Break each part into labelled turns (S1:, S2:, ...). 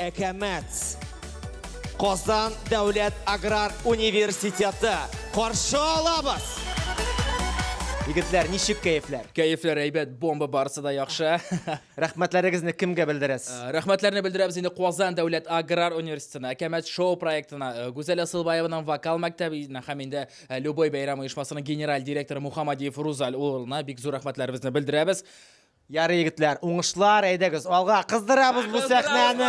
S1: Әкәмәт. Казан дәүләт аграр университеты. Каршы алабыз! Егетләр, ничек кәефләр? Кәефләр әйбәт,
S2: бомба барысы да яхшы. Рәхмәтләрегезне
S1: кемгә белдерәсез? Э, рәхмәтләрне белдерәбез
S2: инде Казан дәүләт аграр университетына, Әкәмәт шоу проектына, э, Гүзәлә Сылбаеваның вокал мәктәбенә һәм инде Ә Любой бәйрәм оешмасының генераль директоры Мухаммадиев Рузаль улына бик зур рәхмәтләребезне белдерәбез. Ярый, егетләр,
S1: уңышлар, әйдәгез, алга кыздырабыз бу сәхнәне!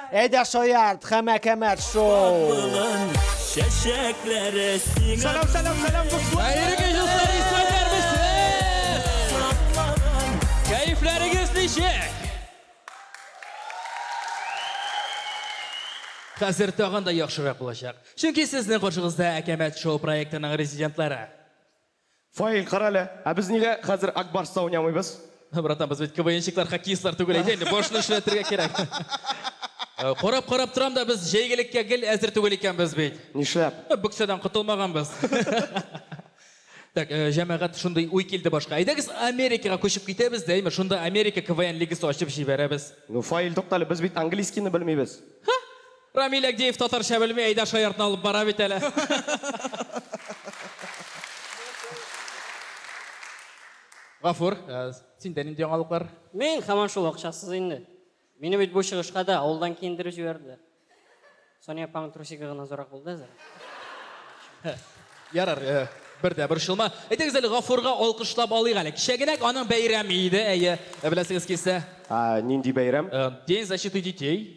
S1: Әйдә, шаярт, хәмәкәмәт шоу! Чәчәкләре сиңа Сәлам, сәлам, сәлам, дуслар! Хәерле дуслар, исмәлләр без!
S2: Кәефләрегез ничек? Хәзер тагын да яхшырак булачак. Чөнки сезнең каршыгызда Әкәмәт шоу проектының резидентлары.
S3: Фаил, карале, ә без нигә хәзер Ак Барста уйнамыйбыз? Братан, без бит
S2: КВНщиклар, хоккеистлар түгел, әйдә инде, башны эшләтергә кирәк. Карап-карап торам да, без җәйгелеккә гел әзер түгел икәнбез бит. Нишләп? Бөксәдән
S3: котылмаганбыз.
S2: Так, җәмәгать, шундый уй килде башка. Әйдәгез Америкага күчеп китәбез дә, әйме, шунда Америка КВН лигасы ачып җибәрәбез. Ну, Фаил, туктале,
S3: без бит английскийны белмибез. Һа? Рамил
S2: Әгдиев татарча белми, әйдә шаяртны алып бара бит әле. Гафур, синдә нинди яңалыклар? Мин һаман шул
S4: акчасыз инде. Мине бит бу чыгышка да авылдан киендереп җибәрделәр. Сания апаның трусигы гына зуррак булды әзер. Ярар,
S2: бер дә борчылма. Әйтегез әле, Гафурга алкышлап алыйк әле. Кичә генә аның бәйрәме иде, әйе, беләсегез килсә. Нинди бәйрәм?
S3: День защиты
S2: детей.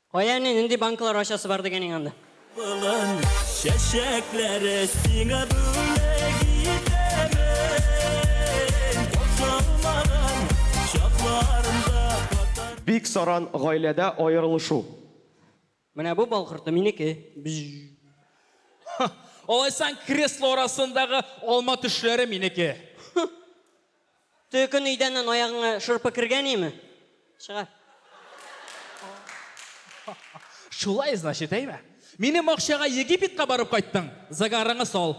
S4: Кая әни, нинди банкалар ачасы бар дигәнең анда? Былын
S5: чәчәкләре сиңа бүләк итәмен, косылмаган чакларымда катар. Бик
S3: саран гаиләдә аерылышу. Менә
S4: бу бал корты минеке.
S2: Алайсаң, кресло арасындагы алма төшләре минеке. Төекөн
S4: өйдәннән аягыңа шырпы кергәниме? Чыгар.
S2: Шулай, значит, әйбә. Минем акчага Египетка барып кайттың, загарыңы сал.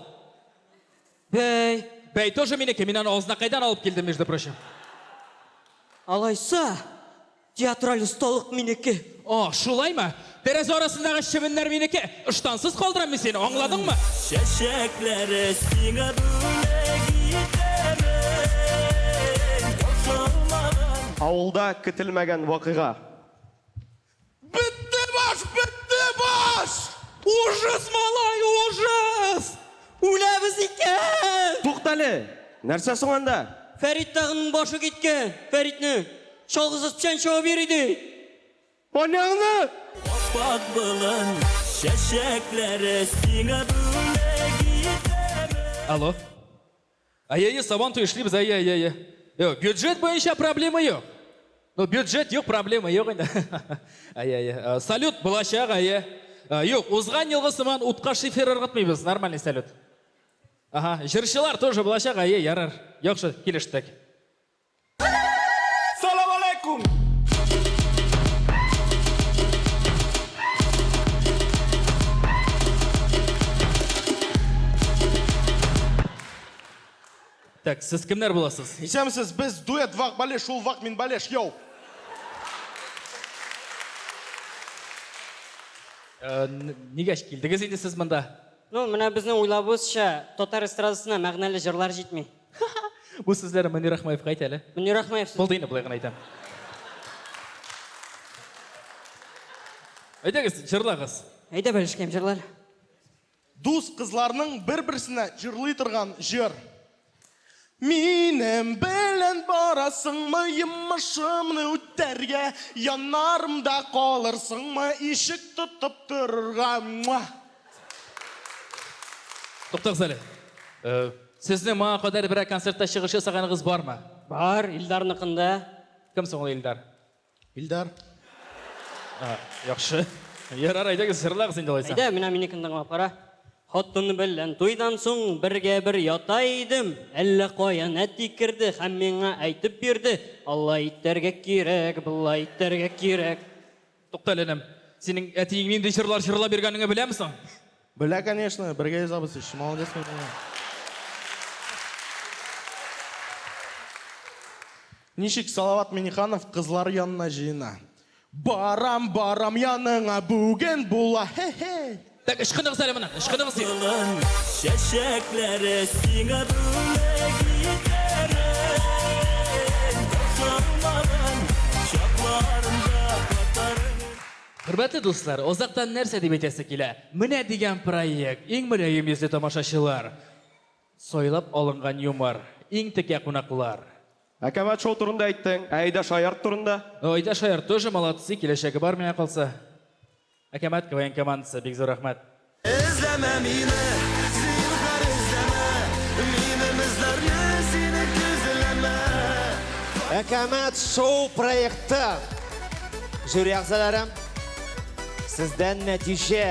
S2: Бәй. Бәй тоже минеке, мин аны Азнакайдан алып килдем, между прочим. Алайса.
S4: Театраль осталык минеке! О, шулаймы?
S2: Тәрәзә арасындагы чебеннәр минеке! Ыштансыз калдырам мин сине, аңладыңмы? Чәчәкләре
S5: сиңа бүләк итәмен, ашалмаган. Авылда
S3: көтелмәгән вакыйга. Бетте
S2: баш, бетте баш! Ужас, малай, ужас! Үләбез
S4: икән! Туктале!
S3: Нәрсә соң анда? Фәрит тагын
S4: башы киткән, Фәритнең. Чалгысыз печән чабып йөри ди. Аняңны!
S3: Аппак
S5: болын чәчәкләре сиңа бүләк итәме? Алло.
S2: Әйе, сабан туй эшлибез, әйе, әйе, әйе. Йо, бюджет буенча проблема юк. Ну, бюджет юк, проблема юк инде. Әйе, әйе. Э, салют булачак, әйе. Э, юк, узган елгы сыман утка шифер ыргытмыйбыз, нормальный салют. Ага, җырчылар тоже булачак, әйе, ярар. Яхшы, килештек. Так, сез кемнәр буласыз? Исәнмесез, без дуэт
S6: вак балеш, шул вак мин балеш, йоу.
S2: Э, нигә килдегез инде сез монда? Ну, менә
S4: безнең уйлавыбызча, татар
S2: эстрадасына
S4: мәгънәле җырлар җитми. Бу
S2: сүзләр Мөнир Ахмаевка әйт әле. Мөнир Ахмаев сүз. Булды инде,
S4: болай гына әйтәм.
S2: Әйдәгез, җырлагыз. Әйдә, бәлешкәем, җырлар.
S6: Дус кызларның бер-берсенә җырлый торган җыр. Минем белән барасыңмы йомышымны үтәргә, янарымда калырсыңмы ишек тотып торырга?
S2: Туктагыз әле. Э, сезнең моңа кадәр берәр концертта чыгыш ясаганыгыз бармы? Бар, Илдарныкында.
S4: Кем соң ул
S2: Илдар? Илдар.
S6: А,
S2: яхшы. Ярар, әйдәгез, җырлагыз инде алайса. Әйдә, менә минекен тыңлап кара.
S4: Хатын белән туйдан соң бергә бер ята идем. Әллә каян әти керде һәм миңа әйтеп бирде. Алла итәргә кирәк, булла итәргә кирәк. Тукта әле, энем.
S2: Синең әтиең нинди җырлар җырлап йөргәнеңне беләме соң? Белә, конечно,
S6: бергә язабыз ич. Молодец, Мирзалия. Ничек Салават Миниханов кызлар янына җыена? Барам, барам яныңа, бүген була, хе-хей! Так, ышкыныгыз әле
S2: моннан, ышкыныгыз сез.
S5: Чәчәкләре сиңа бүләк итәрен, Салмаган чакларында катарын. Хөрмәтле
S2: дуслар, озактан нәрсә дип әйтәсе килә? Менә дигән проект! Иң мөлаем йөзле тамашачылар, сайлап алынган юмор, иң текә кунаклар. Әкәмәт шоу
S3: турында әйттең, ә Әйдә Шаярт турында? Айда Шаярт тоже
S2: молодцы, киләчәге бар, миңа калса. Әкәмәт КВН командасы, бик зур рәхмәт! Эзләмә
S5: мине, зинһар эзләмә, Минем эзләрне синең көзеләмә.
S1: Әкәмәт шоу проекты жюри әгъзалары, сездән нәтиҗә.